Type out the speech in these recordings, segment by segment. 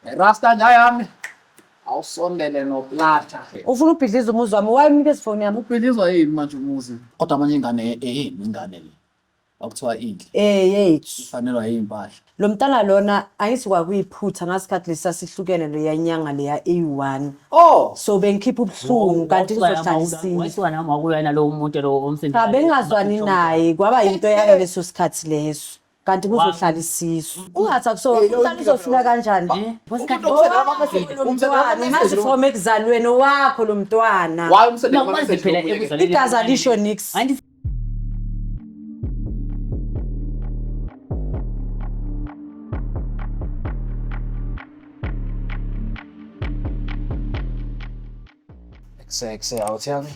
Rasta nja yami awusondele noplata. Ufuna ubhidliza umuzi wami wayemnika isifoni yami. Ubhidlizwa yini manje umuzi? Kodwa amanye ingane eyini ingane le. Okuthiwa inhle. Eh yethu. Ifanelwa yimpahla. Lo mntana lona angithi kwakuyiphutha ngasikhathi lesa sihlukene leya nyanga leya eyi-1. Oh. So bengikhipha ubuhlungu kanti ngizohlala isinye. Wasuka nami wakulwa nalowo muntu lo omsindile. Cha bengingazwani naye kwaba yinto yalo leso sikhathi leso. kanti kuzohlala isisu ungathi akusona umntana uzofika kanjani umntwana mazi from ekuzalweni owakho lo mntwana igazi alisho nix Kuseke awuthiyanga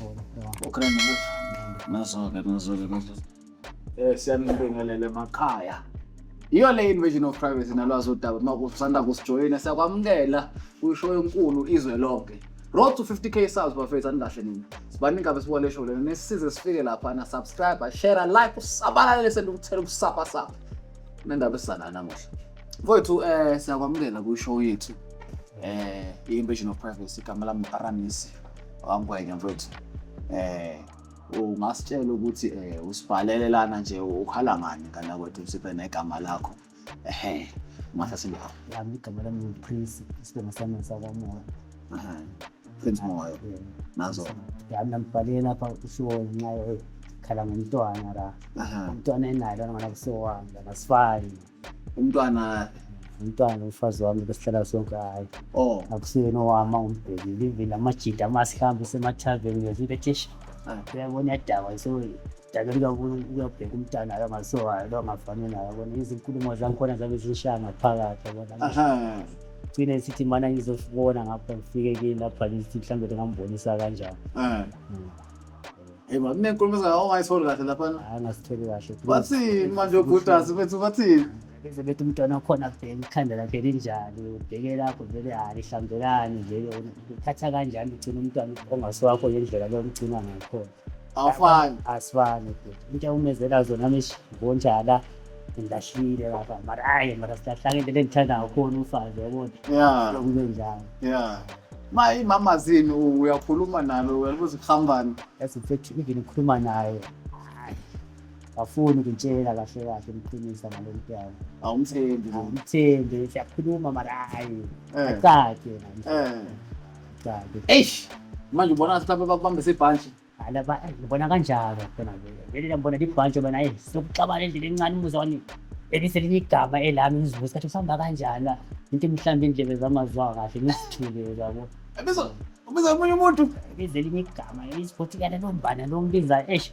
ukreni nazoke nazoke manje eh siyanibingelele makhaya iyo le invasion of privacy nalwazi udaba uma kusanda kusijoyina siyakwamukela kwisho enkulu izwe lonke road to 50k subs bafethu anikahle nini sibaningi abesibuka le show lena nesisize sifike lapha na subscribe share like usabalalele sendukuthela ukusapasapa Kunendaba esizana namuhla. Mfowethu eh siyakwamukela ku show yethu. Eh i-Invasion of Privacy igama lami Aramisi wangwenya mfowethu. Eh ungasitshela ukuthi eh usibhalele lana nje ukhala ngani kana kwethu sibe negama lakho. Ehhe. Mase sindaba. Yami igama lami ngu Prince, isibongo sami ngisakwamoya. Ehhe. prince moyo nazo yami nambhalile lapha ushiwo ngenxa yokhala ngomntwana la aha umntwana enayo lona ngona kusewami la masifani umntwana umntwana umfazi wami besihlala sonke hhayi oh akusiyena owami angumbhekile ivile amajida uma sihambe usemathaveni ngezile thisha ah, uyabona iyadakwa so dake kuyabheka umntana lo ngasowayo lo ngafani nayo bona izinkulumo zangikhona zabe zishaya ngaphakathi yabona aha gcine sithi mana ngizofibona ngapha ngifike kini lapha ngithi mhlawumbe ndingambonisa kanjani Eh. Mm. Hey, man, kunenkulumo ezayo ongayitholi kahle laphana. hayi ngasitholi kahle Bathini manje obhutas bethu bathini? bese bethi umntwana okhona bheka ikhanda lakhe linjani ubheke lapho vele hhayi hlambelani vele uthatha kanjani ugcina umntwana ongasiwakho ngendlela lomgcina ngakhona awufani asifani intsha umezela zona mishi bonjala ngilahlile lapha mara hayi mara silahlanga into engithanda kakhulu ufazi yabona ya kube njalo ya ma imama zini uyakhuluma nalo uyabuza ukuhambani yazi mfethu even ukhuluma naye afuni ukutshela kahle kahle umqinisa ngalo mntwana awumthembi awumthembi siyakhuluma mara hayi eh. acace eh Sabi. Eish! Manje ubona ngathi mhlawumbe bakubambise ibhantshi. Ala ba eh, ngibona kanjalo khona ke. Leli lambona libhantshi bana eh sokuxabana endlini encane umuzwani. Eliselinye igama elami ngizibuza ukuthi usihamba kanjani. Into mhlawumbe indlebe zamazwa kahle ngisithule yabo. Ebizo ubiza omunye umuntu. Bize elinye igama isibuthi kana nombana nombiza eish.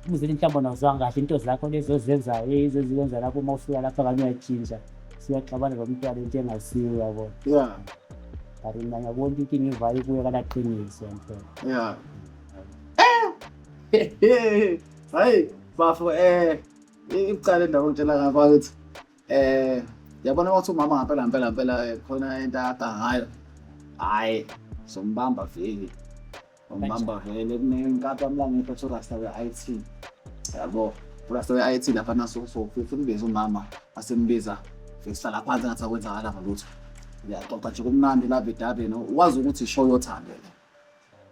Umuzeli mhlawumbe awuzwanga kahle into zakho lezo ozenzayo ezizenza lapho uma ufika lapha kanye uyatshintsha. siyaxabana lomntwana into engasiyo yabo ya but mna ngiyabona into ingivayo kuyo kalaqiniso mfela ya hayi bafo um icala endawo ngitshela ngakho akithi um yabona kwathi umama ngampela mpela mpela khona into akada ngayo hhayi sombamba vele Ngibamba vele kunenkathi wamlanga iphethe urasta we-IT. Yabo, urasta we-IT lapha naso so futhi umbiza umama asembiza sihlala phansi ngathi akwenzakala ngalutho. Ngiyaxoxa nje kumnandi love idabeni wazi ukuthi ishow yothando le.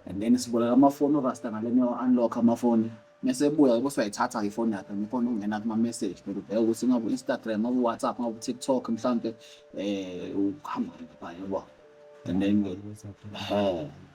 And then siboleka amafoni urasta ngaleni unlock amafoni. Mese ebuya yebo siyayithatha ifoni yakhe ngifona ukungena kuma message bheka ubheka ukuthi ngaku Instagram, ngaku WhatsApp, ngaku TikTok mhlambe eh uhamba lapha yebo. And then eh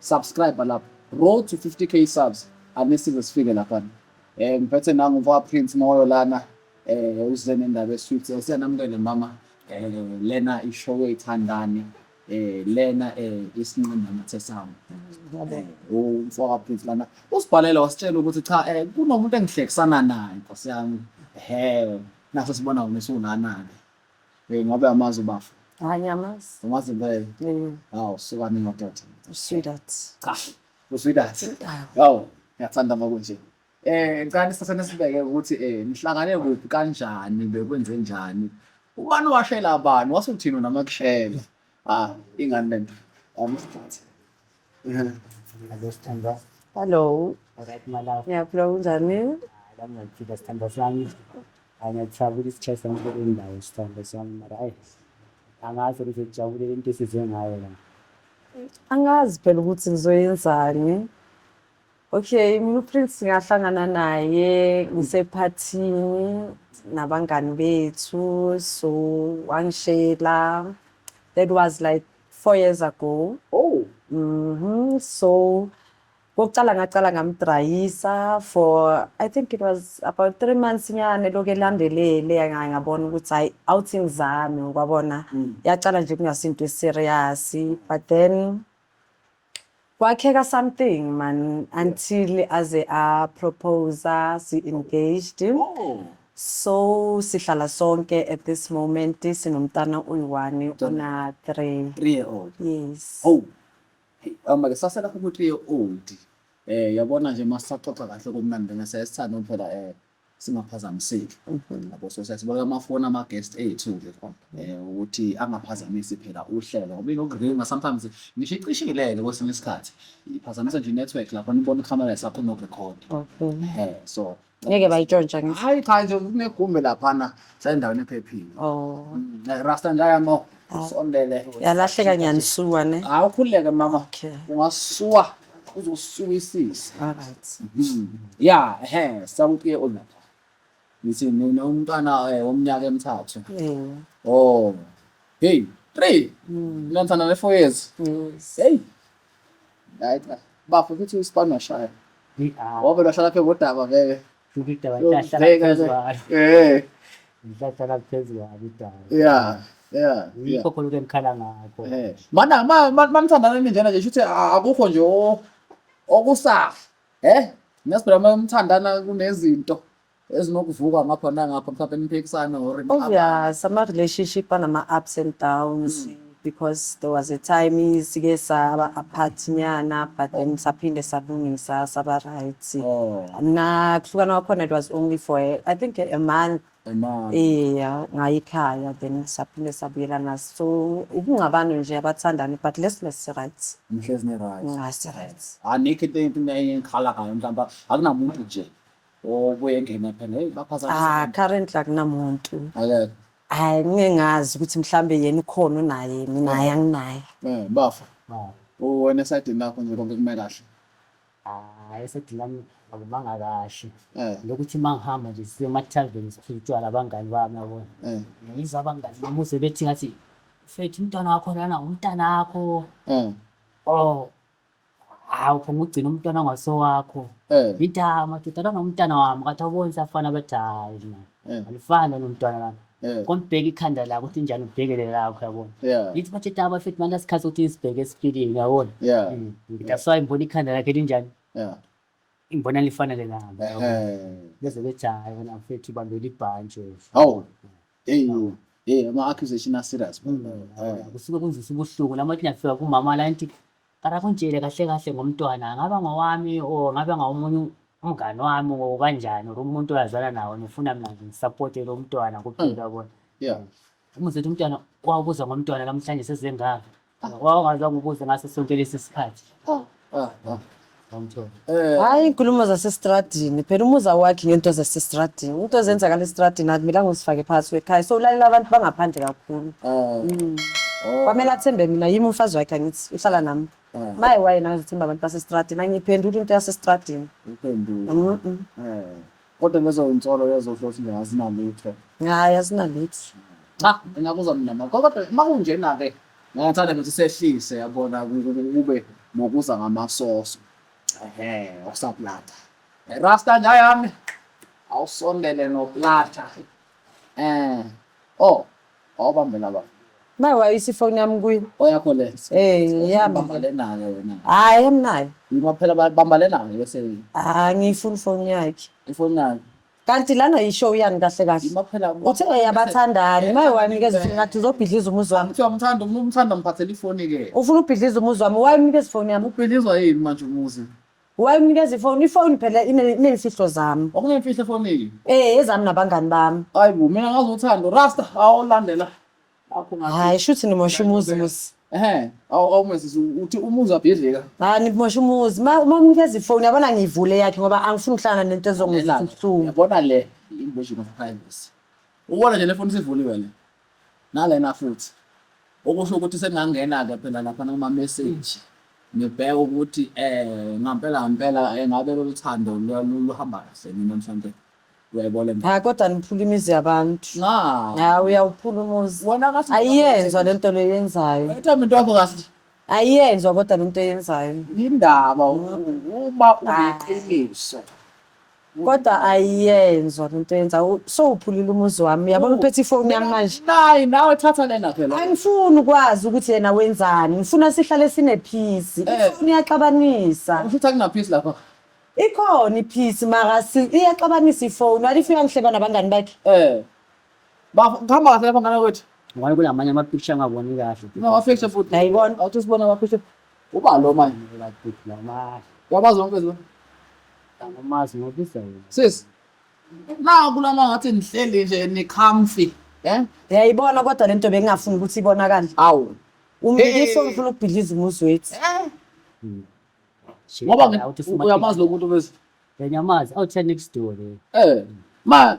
subscribe lapho road to 50k subs anisize sifike lapha um eh, ngiphethe nangu mfaka prince moyo lana um uze nendaba esweet eh, siyanamukele mama um lena ishow eyithandani eh lena eh isinqinda mathe sami umfoka prince lana usibhalela wasitshela ukuthi cha eh kunomuntu engihlekisana naye nkosi yami he naso sibona wona siwunanani Hey, ngabe amazi ubafo. Hayi ngiyamazi. Umazi impela. Mm. Hawu, suka mina madoda. Usweetheart. Cha. Usweetheart. Hawu, ngiyathanda uma kunje. Eh, ngicela isithathana sibeke ukuthi eh nihlangane kuphi kanjani bekwenze njani. Ubani washela bani wasuthini namakushela. Ah, ingane lento. Amsthathe. Hello Sthemba. Hello. Alright my love. Ngiyaphila kunjani? Lami ngiyaphila Sthemba sami. Angiyathakula isikhathi sami kule ndawo Sthemba sami mara ayi. Angazi ukuthi ngijabulele into esize ngayo la. Angazi phela ukuthi ngizoyenzani. Okay, mina uPrince ngahlangana naye ngisephathini nabangani bethu so wangishela that was like four years ago Oh, Mhm. So kokuqala ngaqala ngamdrayisa for I think it was about three months nyane lokhu elandelele nga- ngabona ukuthi hayi awuthi ngizame kwabona yaqala nje kungasinto eserious but then Kwakheka something man until aze a proposa si engaged. So sihlala sonke at this moment sinomntana uyi-one una 3. 3 year old. Yes. Oh. Uma ke sasela ku 3 year old. Eh yabona nje masaxoxa kahle kumnandi ngesesithando phela eh singaphazamiseki yabo so siyasibeka amafoni ama-guest ethu nje um ukuthi angaphazamisi phela uhlelo ngoba inokuringa sometimes ngisho icishileke kwesinye isikhathi iphazamisa nje i-network lapho nibona ikhamera sakho nokurekhodi Okay. um so Ngeke bayitshontsha ngisho. hayi cha nje kunegumbi laphana sendaweni ephephile Oh. Mm, eh, rasta njayamo sondele Yalahleka ngiyanisuka ne. hawu ukhululeke mama Okay. ungasuwa uzosuwisisa phakathi mm-hmm. ya ehe sakupiye olapha ngithi nina umntwana eh, womnyaka emithathu oh hey three mm. lantana le four years hey right bafo futhi isipani washaya wabe lwashaya lapha ngodaba vele Ubida wahlala Yokubheka phezu ke. kwalo. Eh, Ngihlala phezu kwalo idala. yeah, yeah, yeah. Yikho khona ukuthi engikhala ngakho. Eh, mana ma ma- manithandana ninjena nje shuthi a- akukho nje o- okusafa eh nesiphela uma umthandana kunezinto ezinokuvuka ngapha nangapha mhlawumbe niphikisane or Obvious, ama-relationship anama-ups and downs. because there was a time sike saba apart nyana but then oh. saphinde salungisa saba right oh. na kuhlukana kwakhona it was only for a, i think a month iya ngayikhaya then saphinde sabuyelana so ukungabani nje abathandani but let's let's right mhlezi ne right ngasi right anikho into into engikhala ngayo mhlawumbe akunamuntu nje obuye engena phela hey baphazamisa ah currently akunamuntu akekho Hayi ngeke ngazi ukuthi mhlambe yena ukhona unaye mina hayi anginaye. Eh bafo. Uwena esadini lakho nje konke kume kahle. Hayi esedini lami akumanga kahle. Eh. Lokuthi uma ngihamba nje siye ema-tarven siphile utshwala abangani bami yabona. Eh. Ngiyiza abangani bami uze bethi ngathi mfethu umntwana wakho lana umntana wakho. Eh. Oh hawu phuma ugcina umntwana ongasowakho eh. ngidama dodana nomntana wami kathi awuboni safana bathi hayi mina eh. alifani nomntwana lami eh. kombheka ikhanda lakho ukuthi njani ubhekele lakho yabona ngithi bathi daba futhi manje asikhathi ukuthi isibheke esipilini yabona mm. ngithi asayi ngibona ikhanda lakhe linjani ngibona lifanele nami bese bethi hayi wena mfethu ubambela ibhantshi hawu Hey, hey, ama accusation a serious. Hmm. Eh. Kusuke kunzisa ubuhlungu lama kuyafika kumama la nti akakuntshele kahle kahle ngomntwana ngaba ngowami or ngabe ngawomunye umngani wami or kanjani or umuntu oyazana nawo nifuna mina nje ngisupporte lo mntwana kuphela hmm. yabona. Yeah. Uma uzothi umntwana wawubuza ngomntwana namhlanje sezengaka Wawungaze ukubuze ngaso sonke lesi sikhathi. Oh. Ah, ah. Eh. Hayi inkulumo zasestradini phela umuzi awakhi ngento zasestradini into ezenzakala estradini akumela ngizifake phakathi kwekhaya so ulalela abantu bangaphandle kakhulu ah. mm. oh. kwamele athembe mina yimi umfazi wakhe angithi uhlala nami maye wayena azithemba abantu basestradini angiyiphenduli into yasestradini Kodwa lezo zinsolo lezo kusho ukuthi nje azinalutho. Hhayi azinalutho. Cha, ngingakuzwa mina mama. Kodwa uma kunjena-ke ngingathanda ukuthi sehlise yabona ku- ku- ku- kube nokuza ngamasoso. Ehhe, okusaplata. Rasta nja yami. Awusondele noplata. Eh. Oh, Awubambe la baba. Maye wayisa ifoni yami kuye. Oyakho le. Eh, yami. Bamba le nayo wena. Hayi amnayo. Ngoba phela babamba le nayo bese Ah, ngiyifuna ifoni yakhe. ifoni nayo. Kanti lana yishow yani kahle kahle. Yima phela. Uthe eyabathandani. Maye wanikeza ifoni ngathi uzobhidliza umuzi wami. Kuthiwa umthanda umuntu umthanda mphathela ifoni ke. Ufuna ubhidliza umuzi wami. Why unikeza ifoni yami? Ubhilizwa yini manje umuzi? Wayemnikeza ifoni, ifoni phela ine- ineyimfihlo zami. Okunemfihlo efonini. Eh, ezami nabangani bami. Hayi bo, mina ngazi uthando. Rasta, awulandela. Akho ngathi. Hayi, shuthi nimosha umuzi muzi. Ehhe, awu awumesisi uthi umuzi abhidlika. Hayi, nimosha umuzi. Ma uma umnikeza ifoni, yabona ngiyivule yakhe ngoba angifuni ukuhlangana nento ezongizisa ubuhlungu. Yabona le invasion of privacy. Ubona nje le foni sivuliwe le. Nalena futhi. Okusho ukuthi sengingangena ke phela laphana kuma message ngibheke ukuthi eh ngampela ngampela engabe lolu thando luhamba kahle mina mhlampe uyayibona le nto. Hayi kodwa niphula imizi yabantu. Nga. Hayi uyawuphula umuzi. Wena kahle. Ayiyenzwa le nto leyenzayo. Wethe umuntu wakho kahle. Ayiyenzwa kodwa le nto eyenzayo. Indaba uma uneqiniso. Kodwa ayiyenzwa lento yenza sowuphulile umuzi wami uyabona uphethe ifoni yami manje. Nayi nawe thatha lena phela. Angifuni ukwazi ukuthi yena wenzani. Ngifuna sihlale sinephisi. Eh. Ifoni iyaxabanisa. Usho ukuthi akunaphisi lapha. Ikhona iphisi mara si iyaxabanisa ifoni. What if uyangihleba nabangani bakhe? Eh. Ba ngihamba kahle lapha ngana kwethu. Ngoba kulamanye ama picture angaboni kahle. Ngawafihla futhi. Nayibona. Awuthi usibona ama picture. Uba lo manje ngibeka big la manje. Yabazi wonke zona. Angamazi ngobisa yena. Sis. Na kulana ngathi nihleli nje ni comfy. Eh? Yayibona kodwa lento bengingafuni ukuthi ibonakale. Awu. Umbikiso ngifuna ukubhidliza umuzi wethu. Eh? Hmm. Ngoba uyamazi lomuntu bese. Ngiyamazi. Awutheni next door. Eh. Ma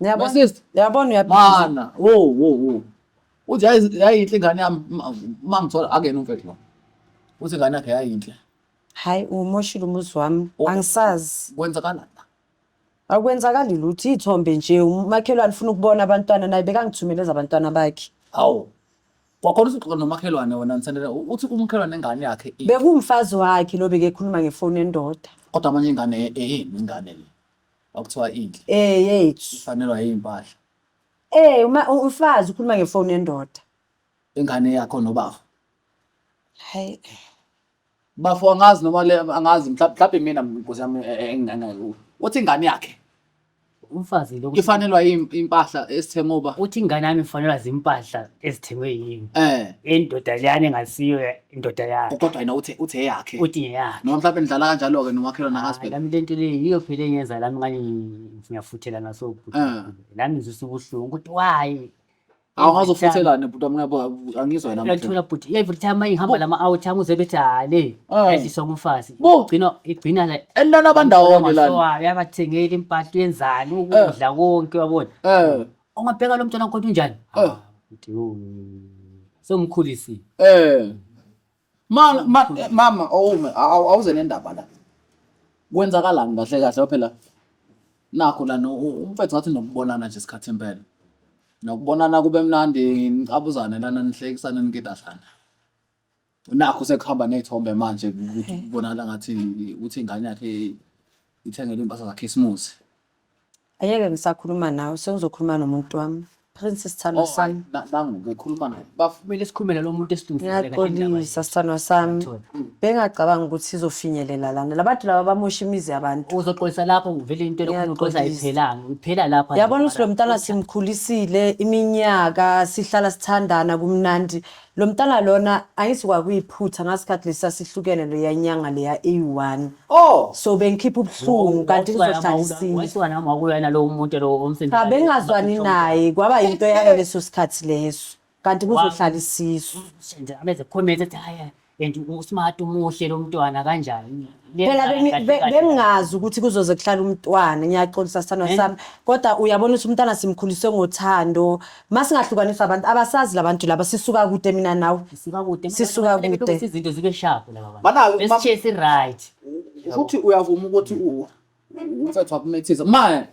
Ngiyabona. Sister. Ngiyabona uyaphila. Mana, wo wo wo. Uthi yayinhle ingane yami mangithola akena umfethu lo. Uthi ingane yakhe yayinhle. Hayi umoshile umuzi wami. Oh. Angisazi. Kwenzakala la. Akwenzakali lutho ithombe nje umakhelwane ufuna ukubona abantwana naye bekangithumele ezabantwana bakhe. Hawu. Kwakhona usuxoxa nomakhelwane wena Nsendela uthi umkhelwane ingane yakhe. Bekumfazi wakhe lo bekekhuluma ngefoni endoda. Kodwa manje ingane eyini ingane le. Okuthiwa inhle. Eh yethu. Ifanelwa yimpahla. Eh uma umfazi ukhuluma ngefoni yendoda. Ingane yakho nobafo. Hayi. Bafo angazi noma le angazi mhlawumbe mina nkosi yami e, e, enginganayo. Uthi ingane yakhe. Umfazi lo ifanelwa impahla esithengwe uba. Uthi ingane yami ifanelwa zimpahla ezithengwe yini. Eh. Indoda leyani engasiyo indoda yakhe kodwa yena uthe uthe eyakhe uthi ngeyakhe noma mhlawumbe nidlala kanjalo-ke nomakhelwane Hayi, akasibheki lami lento leyo yiyo phela engenza lami ngani ngiyafuthela naso Eh. lami ngizwisa ubuhlungu ukuthi why awungaze ufuthelane bhuti wami ngiyabo angizwa yena mhlawumbe. uyathola bhuti every time uma ihamba lama-out ami uze bethi hale Eh. edliswa ngumfazi Bo. igcina igcina la enilala bandawonye lana yabathengeli impahla yenzani ukudla konke wabona Eh, Ungabheka lo mntwana wakho ukuthi unjani? Eh. Ah, uthi, "Oh, Sewumkhulisile. Eh. Ma, ma, eh, mama awume awu- awuze nendaba la. Kwenzakalani kahle kahle Ngoba phela nakho la no- u- umfethu ngathi nokubonana nje isikhathi impela. Nokubonana kube mnandi nicabuzane lana nihlekisane nikidazana. nakho sekuhamba ney'thombe manje ukuthi kubonakala ngathi ukuthi ingane yakhe ithengelwe iy'mpahla zakhisimusi Ayeke ngisakhuluma nawe sengizokhuluma nomuntu wami. Prince sithandwa sami. nangu-ke khuluma naye bafo kumele sikhulume nalo muntu esilungiselela indaba yethu. Ngiyaxolisa sithandwa sami. Bengacabanga ukuthi sizofinyelela lana. Labantu laba bamosha imizi yabantu. uzoxolisa lapho ngivele into elokhu uxolisa Ngiyaxolisa. ayiphelanga iphela lapho Yabona ukuthi lo mntana simkhulisile iminyaka sihlala sithandana kumnandi Lomtana lona angithi kwakuyiphutha ngasikhathi lesa sihlukene leya nyanga leya eyi-one Oh, so bengikhipha ubuhlungu kanti ngizohlala isinye wayisuka nami wakuya nalowo muntu lowo omfimbi cha bengingazwani naye kwaba yinto yalo leso sikhathi leso kanti kuzohlala isisu nje abeze comment ethi hayi and usmart umuhle lo mntwana kanjani phela bengi- be- bengingazi ukuthi kuzoze kuhlala umntwana ngiyaxolisa sithandwa sami kodwa uyabona ukuthi umntwana simkhulise ngothando masingahlukaniswa abantu abasazi labantu laba sisuka kude mina nawe sisuka kude sisuka kude izinto zibe sharp laba bantu besishiye si right ukuthi uyavuma ukuthi u umfethu wakumethisa manje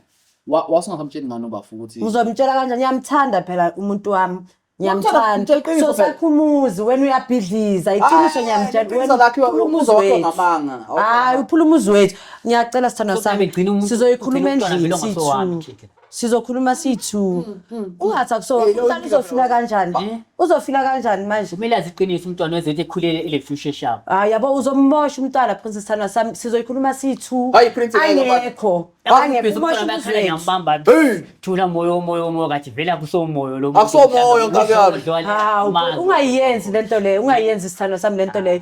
wasingasamtsheli ngani ubafu ukuthi uzomtshela kanjani ngiyamthanda phela umuntu wami ngiyamthanda so sakhumuzi wena uyabhidliza iqiniso ngiyamtshelaumuzi wethu hayi uphula umuzi wethu ngiyacela sithandwa sami sizoyikhuluma endlini sithu sizokhuluma sithu hmm, hmm, hmm. ungathi akusomntana uzofila kanjani eh? uzofila kanjani manje kumele aziqinise umntwana wezethu ekhulele ile future shabo hayi yabo uzommosha umntwana princess thana sami sizoyikhuluma sithu hayi princess ayekho thula moyo moyo moyo kathi vela kusomoyo lo akusomoyo nkabi yami ungayenzi lento leyo ungayenzi sithando sami lento leyo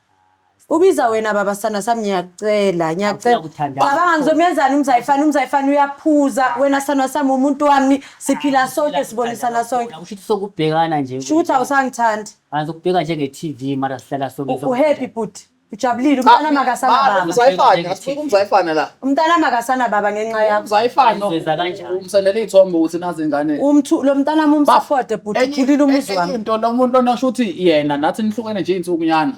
Ubiza wena baba sana sami ngiyacela ngiyacela. Awusakuthandaza. Cabanga ngizomenzani umzayifana umzayifana uyaphuza wena sana sami umuntu wami siphila sonke sibonisana sonke. Usho ukuthi sokubhekana nje. Sho ukuthi awusangithandi. Angizokubheka njenge-TV mara sihlala sonke. U- Uhappy bhuti. Ujabulile umntana makasana baba. Umzayifana, asifuni umzayifana la. Umntanami akasana baba ngenxa yakho. Zayifana. Ngizweza kanjani? Umsendela iy'thombe ukuthi nazi ingane. Umthu lo mntanami umsafode bhuti Enye- ukhulile umuzi enye wami. into lo muntu lona sho ukuthi yena nathi nihlukene nje iy'nsukunyana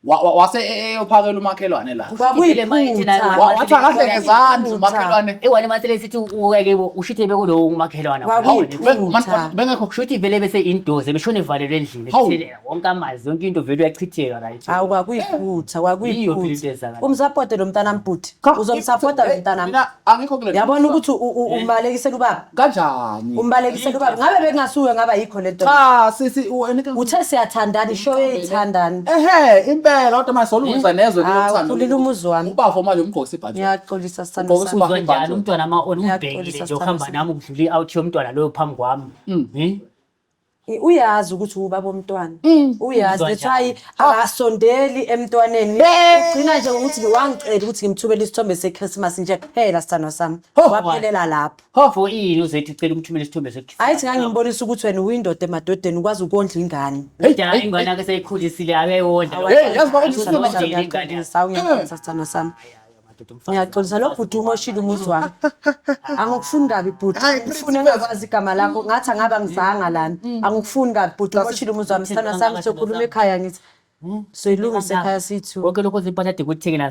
Wa- wa- wase e- e- eyophakela umakhelwane la Ngibile ma ithi nayo. Kwakuyiphutha. Wa- wathi akahle ngezandla Iphutha. umakhelwane Iwani masele sithi uweke bo ushithe bekulowo umakhelwana. Kwakuyiphutha. Hawu, Be- man- bengekho Shuthi vele bese indoze beshone valelwe endlini. Hawu. Kuthile- wonke amazwi yonke into vele uyachitheka right hawu kwakuyiphutha kwakuyiphutha umsapote lo mntana mbhuti uzomsapota lo mntana mina angikho kule yabona ukuthi umbalekisela ubaba kanjani umbalekisela ubaba ngabe bekungasuwe ngaba yikho lento cha sisi uthe siyathandana isho eyithandana ehe impela kodwa manje solungisa nezwe lokuthanda ulila umuzi wami ubafo manje umgqokisa ibhathi ngiyaxolisa sithanda sami njalo umntwana ama on ubhekile nje uhamba nami ukudlula i-out yomntwana loyo phambi kwami hmm. uyazi ukuthi ubaba omntwana mm. uyazi that's why oh. akasondeli emntwaneni ugcina nje ngokuthi wangicela ukuthi ngimthumele isithombe sechristmas nje kuphela sithandwa sami waphelela lapho hofo yini uzethi ucela umthumele isithombe sechristmas ayithi ngangimbonisa ukuthi wena uyindoda emadodeni ukwazi ukondla ingane idala ingane ke seyikhulisile akeyona yazi bakuthi sithandwa sami Ngiyaxolisa lo bhuti umoshile umuzi wami. Angikufuni kabi bhuti. Ngifuna engakwazi igama lakho ngathi angabe angizanga lana. Mm. Angikufuni kabi bhuti umoshile umuzi wami. Sithanda sami sokhuluma ekhaya ngithi. Hmm? soyilungisa ekhaya sithu konke lokho zimpahla ade kuthengile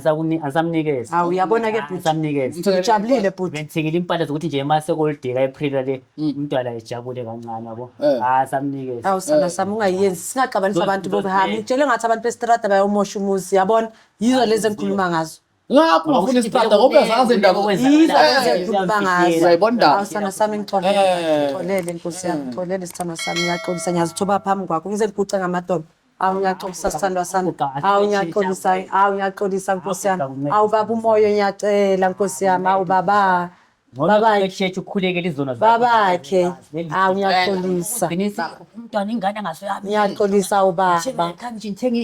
asamnikeza awu uyabona ke bhuti asamnikeza ngijabulile bhuti bengithengile impahla zokuthi nje uma sekolidika epril le hmm. umntwana ejabule kancane yabo eh. asamnikeza ah, awu sana eh. sami ungayenzi singaxabanisa abantu bokuhamba ngitshele ngathi abantu bestrada bayomosha umuzi yabona yizo lezi engikhuluma ngazo ngakho ngafuna isihlahla ngoba uyazazi indaba yizo lezi engikhuluma ngazo uyayibona indaba awusana sami ngixolele Eh. ngixolele nkosi yami ngixolele sithando sami ngiyaxolisa ngiyazithoba phambi kwakho ngize ngiguce ngamadolo awu ngiyaxolisa sithandwa sami awu ngiyaxolisa awu ngiyaxolisa nkosi yami awu baba umoya ngiyacela nkosi yami awu baba babakhe Sheshe ukhulekele izona zakho. babakhe awu ngiyaxolisa Qinisa umntwana ingane angasoyami. ngiyaxolisa awu baba Ngikhambishe ngithenge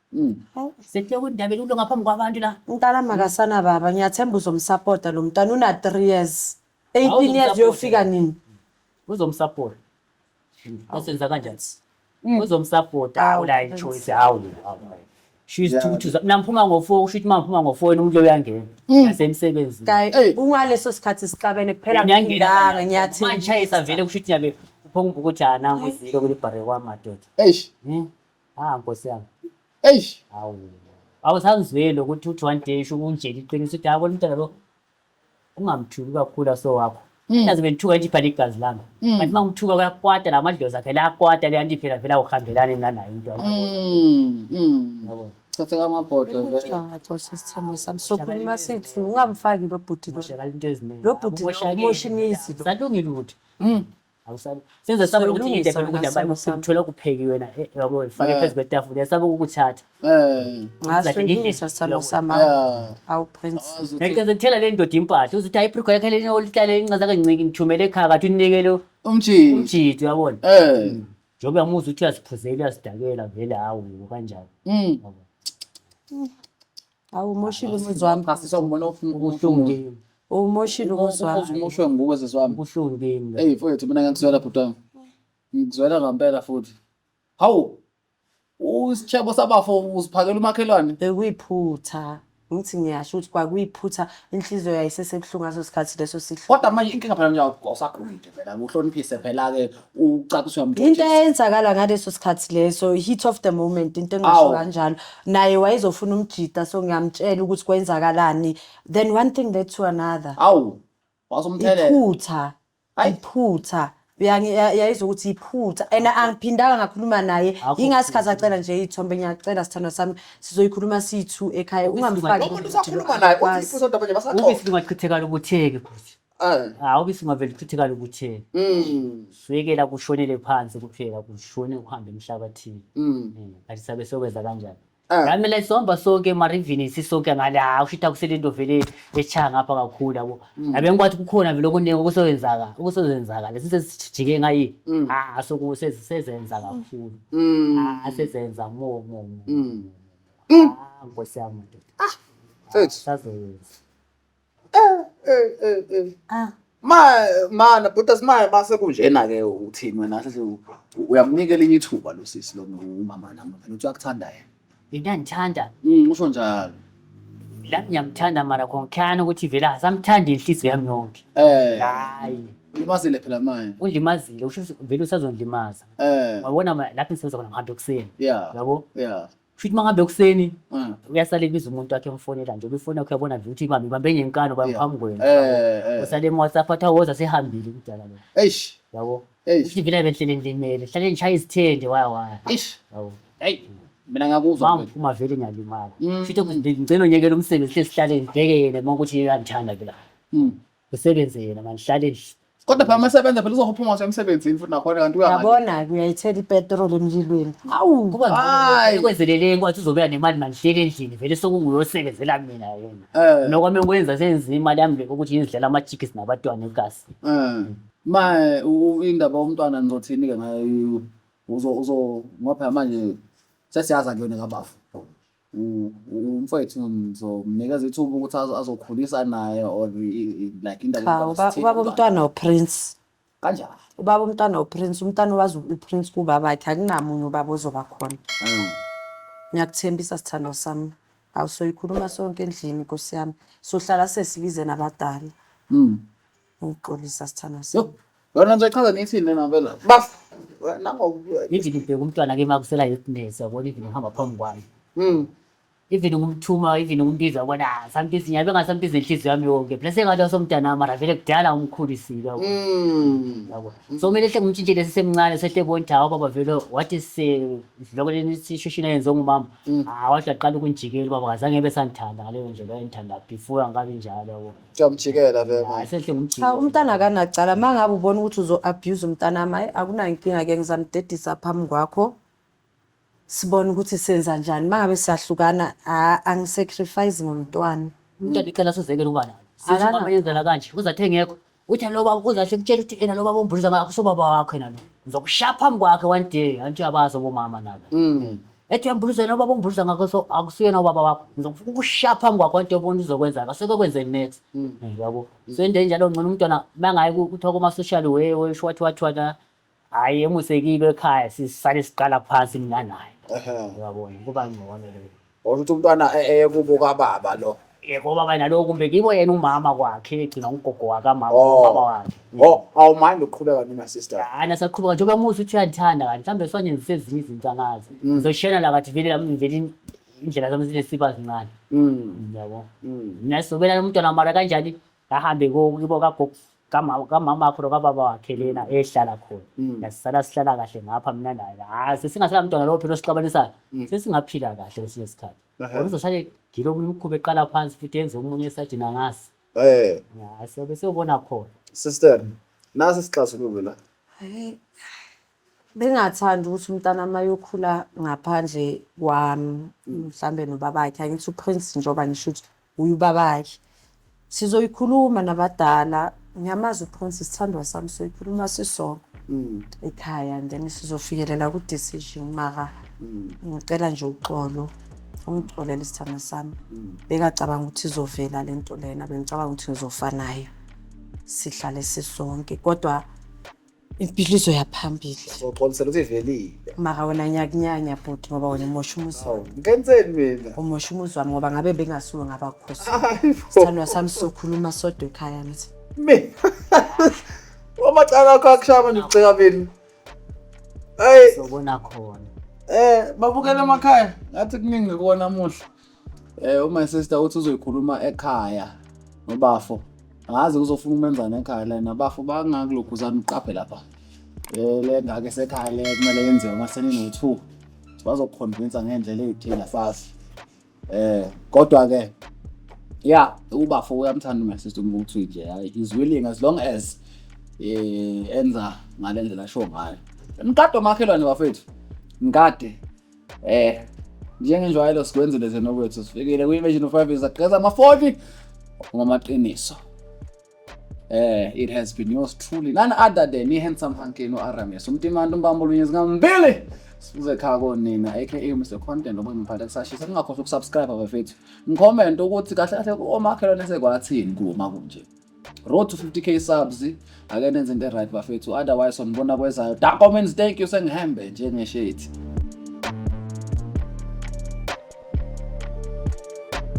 Mm. Sekuhleka undaba elulo ngaphambi kwabantu la. Umntana makasana baba ngiyathemba uzomsapota lo mntana una 3 years. 18 years uyofika nini? Uzomsapota. Asenza kanjani? Mm. Uzomsapota awula choice hawu. She's yeah. two namphuma ngo-four usho ukuthi uma ngiphuma ngo-four yena umuntu uyangena mm. nasemsebenzini kayi kungaleso sikhathi sixabene kuphela ngindanga ngiyathi manje isavele kusho ukuthi nyabe uphonga ukuthi ana ngizile kulibhare kwamadoda eish hmm? Ah nkosi yami. Eish. Hawu. Awusangizweli ukuthi uthi one day usho unjela iqiniso ukuthi yabona umntana lo ungamthuki kakhulu aso wakho. Mm. Naze bengithuka nje ibhale igazi lami. Mm. Kanti uma ngithuka kuyakwata la madlozi akhe la kwata le anti phela vela uhambelane mina nayo into. Mm. Mm. Yabona. Thatha kamabhodlo vele. Ngacosha isithembu sami sokhuluma sithi ungamfaki lo bhuti lo. Ushakala into eziningi. Lo bhuti lo Umoshakele. umosha imizi lo. Salungile ukuthi Mm. awusabi senze sabe ukuthi Silungisa idebe lokudla ngasimo abantu sami. uthola kuphekiwe na eh, yabo ifake Eh. phezu kwetafula yasaba ukuthatha Eh, ngasilungisa salo Yabo. sama yeah. awu prince Awazi ukuthi- ngeke ngithela le ndoda impahla uzothi hayi ibrigwa yakhe lena olihlale incaza kanciki ngithumele ekhaya kathi unikele Umjini. umjidi uyabona Eh. njengoba uyamuzwa ukuthi uyaziphuzela uyasidakela vele hawu yebo kanjalo Mm. Awu umoshile umuzi wami. Cha sisi awubona ubuhlungu. Umoshile umuzi wami. Umoshwe nguwe sisi wami. Ubuhlungu kimi. Hey mfowethu mina ngikuzwela bhuti wami. Ngikuzwela ngampela futhi. Hawu. Usitshebo sabafo usiphakela umakhelwane. Bekuyiphutha. Ngithi ngiyasho ukuthi kwakuyiphutha inhliziyo yayisesebuhlungu ngaso sikhathi leso sihlungu. Kodwa manje inkinga phela nje awusakhulile phela uhloniphise phela-ke ucaciswa mntu into eyenzakala ngaleso sikhathi leso heat of the moment into engasho kanjalo naye wayezofuna umjita so ngiyamtshela ukuthi kwenzakalani then one thing led to another awu wasomthelela iphutha iphutha yayizwa ukuthi iphutha and angiphindanga ngakhuluma naye ingasikhathi acela nje iy'thombe ngiyacela sithandwa sami sizoyikhuluma siyi-two ekhaya ungamfaki umuntu usakhuluma naye uthi iphutha kodwa manje basaqoqa ubisi lungachithekala ubutheke futhi Ah. hawu ke singavele critical ukuthi Mm. swekela kushonele phansi kuphela kushone kuhambe emhlabathini Mm. Eh, kanti sabe sokwenza kanjani Ah. nami la sizohamba sonke emarivini sisonke ngale hawu shitha kusele into vele echaya ngapha kakhulu yabo Mm. yabe ngikwathi kukhona vele okuningi okusebenzaka okusebenzaka lesi sesijike ngayi Mm. ah soku sezenza kakhulu Mm. ah sezenza mo mo mo Mm. ah nkosi yami ndoda Mfethu. sazoyenza Eh, eh, eh, eh. Ah. Ma mana bhuti asimaye base kunjena ke uthini wena sase uyamnika elinye ithuba lo sisi lo umama nami phela uthi uyakuthanda yena. Yena ngithanda. Mm usho njalo. La ngiyamthanda mara konkhana ukuthi vele asamthandi inhliziyo yami yonke. Eh Hayi. ulimazile phela manje. Ulimazile usho ukuthi vele usazondlimaza. Eh Wabona ma- lapho ngisebenza khona ngihambe ekuseni. yeah Yabo? yeah. Futhi mangabe ekuseni Mm. uyasala ebiza umuntu wakhe emfonela nje ubifona wakhe yabona vele ukuthi ibambe ibambe ngenkani ubambe Yeah. phambi kwena. Eh, eh. Usale eMWhatsApp athi awoza sehambile umdala lo. Eish, Yabo. eish, Ukuthi vele benhlele ngilimele. Hlale ngishaya izithende waya waya. eish. Yabo. Hey, mina ngakuzwa. Mama uma vele ngiyalimala. Mm. Futhi ngicela onyekela umsebenzi hle sihlale ngibheke yena uma ukuthi uyangithanda ke la. Mm. Ngisebenze yena manje hlale endlini. Kodwa phela masebenza phela uzophuma ngisho emsebenzini futhi nakhona kanti uya ngale. Yabona ke uyayithela ipetrol emlilweni. Awu. Kuba Hayi. ngcono kwenzelele kwathi uzobeka nemali manje hlele endlini vele sokunguyosebenzela mina yena. Eh. Nokwami ukwenza senza imali yami le ukuthi ngizidlela ama-chicks nabatwana egasi. Eh. Ma eh, u- u- indaba yomntwana nizothini ke ngayo uzo uzo ngoba phela manje sesiyaza kuyona kabafu. umfowethu ngizomnikeza ithuba ukuthi azokhulisa naye or like indawo cha ubaba umntwana uprince kanjani ubaba umntwana uprince umntwana owazi uprince kubaba wakhe akunamunye ubaba ozoba khona mm. ngiyakuthembisa sithando sami awusoyikhuluma sonke endlini nkosi yami sohlala sesibize nabadala mm. Ngixolisa sithandwa sami. Yona nje chaza nithini lena phela. Baf. Nangokubuya. Ngithi ngibheka umntwana ke makusela yetness yabona even uhamba phambi kwami. Mm. Even ngumthuma even ngumbiza ubona ah, sometimes ngiyabe ngasambiza inhliziyo yami yonke. Plus engathi osomntana wami mara vele kudala umkhulisile yabo. Mm. Yabo. So kumele hle ngimtshintshe lesi semncane sehle bonke hawo baba vele what is eh, isidloko leni sishishina yenze ngumama. Mm. Ah wathi aqala ukunjikela baba kazange ebe sangithanda ngaleyo ndlela ayengithanda before angabi njalo yabo. Kuyamjikela vele manje. Hayi senhle ngumjiki. Cha umntana akanacala uma ngabe ubona ukuthi uzo-abuse umntana wami hayi akunankinga-ke ngizamdedisa phambi kwakho sibone ukuthi senza njani uma ngabe siyahlukana ha- angisacrifice ngomntwana Umntwana icela sozekela ukuba nalo. Sisho Akana- mama yenzela kanje. Uze athe ngekho. Uthi lo baba uze ahle kutshela ukuthi ena lo baba umbhuliza ngakho sobaba wakho yena lo. Ngizokushaya phambi kwakhe one day. Anti uyabazi obomama nabo. Mm. ethi uyambuluza yena ubaba ongibuluza ngakho so akusiyena ubaba wakho ngizokufuna ukushaya phambi kwakho into obona uzokwenza ngase kokwenze next mm. eh, yabo mm. so into enjalo ngcono umntwana mangaye kuthiwa kuma-social way wesho wathi wathwana hhayi emusekile ekhaya sisale siqala phansi mina naye uyabona kuba ngcono leyo ukuthi umntwana eye kubo kababa lo yebo baba naloku kumbe kibo yena umama kwakhe egcina ugogo wakamama Oh. ubaba wakhe Oh, awumandi uqhubeka mina sister. hayi nasaqhubeka njengoba musa ukuthi uyandithanda kanti mhlawumbe sonyenzisa ezinye izinto angazi Mm. ngizoshena la kathi vele lami ngivele in- indlela zami zinesiba zincane Mm. yabo Mm. mina sobela umntwana mara kanjani ngahambe ko- kibo kagogo kamama kamama wakho nokababa wakhe lena ehlala khona Mm. yasisala sihlala kahle ngapha mina naye hayi sesingasela mntwana lowo phela osixabanisayo Mm. sesingaphila kahle kwesinye isikhathi ngoba izoshale ngilokhu imikhuba eqala phansi futhi yenze omunye esajina ngasi eh ya siyobe siyobona khona sister nasi isixazululo la Hayi, bengathanda ukuthi umntana uma yokhula ngaphandle kwami mhlawumbe nobabakhe angithi uprince njengoba ngisho ukuthi Uy ubabake. Sizoyikhuluma nabadala ngiyamazi uphonsi sithandwa sami soyikhuluma sisonke mm. ekhaya and then sizofikelela ku decision mara mm. ngicela nje uxolo ungixolele isithandwa sami mm. bekacabanga ukuthi izovela lento lena bengicabanga ukuthi ngizofanayo sihlale sisonke kodwa impilo izoya phambili soxolisela ukuthi ivelile mara wena nyakunyanya bhuti ngoba wena umosha umuzi awu ngenzeni mina umosha umuzi wami ngoba ngabe bengasuwe ngabakhosi Hayi bo. sithandwa sami sokhuluma sodwa ekhaya ngithi mina omacala akho akushaya manje uceka mina hayi sobona khona eh babukela emakhaya ngathi kuningi kuwona muhle Eh uma sister uthi uzoyikhuluma ekhaya nobafo. Ngazi uzofuna umenzana ekhaya la nabafo bangakuloguzana uqaphe lapha. Eh le ngake sekhaya le kumele yenziwe uma senino 2. Bazokukhonvinsa ngendlela ezithile asazi. Eh kodwa ke yeah ubafo uyamthanda my sister umuntu nje hayi is willing as long as eh enza ngalendlela show ngayo. Mkade omakhelwane bafethu. Mkade Eh njengenjwayelo sikwenzile thina okwethu sifikile kwi-imagine of five sagqeza ama-40 ngamaqiniso Eh, it has been yours truly. None other than i-handsome hunky no-aramis. Umtimanta umbambo olunye zingambili. Sifuze khaya konina aka Mr Content ngoba ngiphatha kusashisa. Ningakhohlwa ukusubscribe abafethu. Ngicomment ukuthi kahle kahle komakhelwane sekwathini kuma kunje. road to 50k subs ake nenze into right bafethu otherwise sonibona kwezayo da comments thank you sengihambe njengeshethi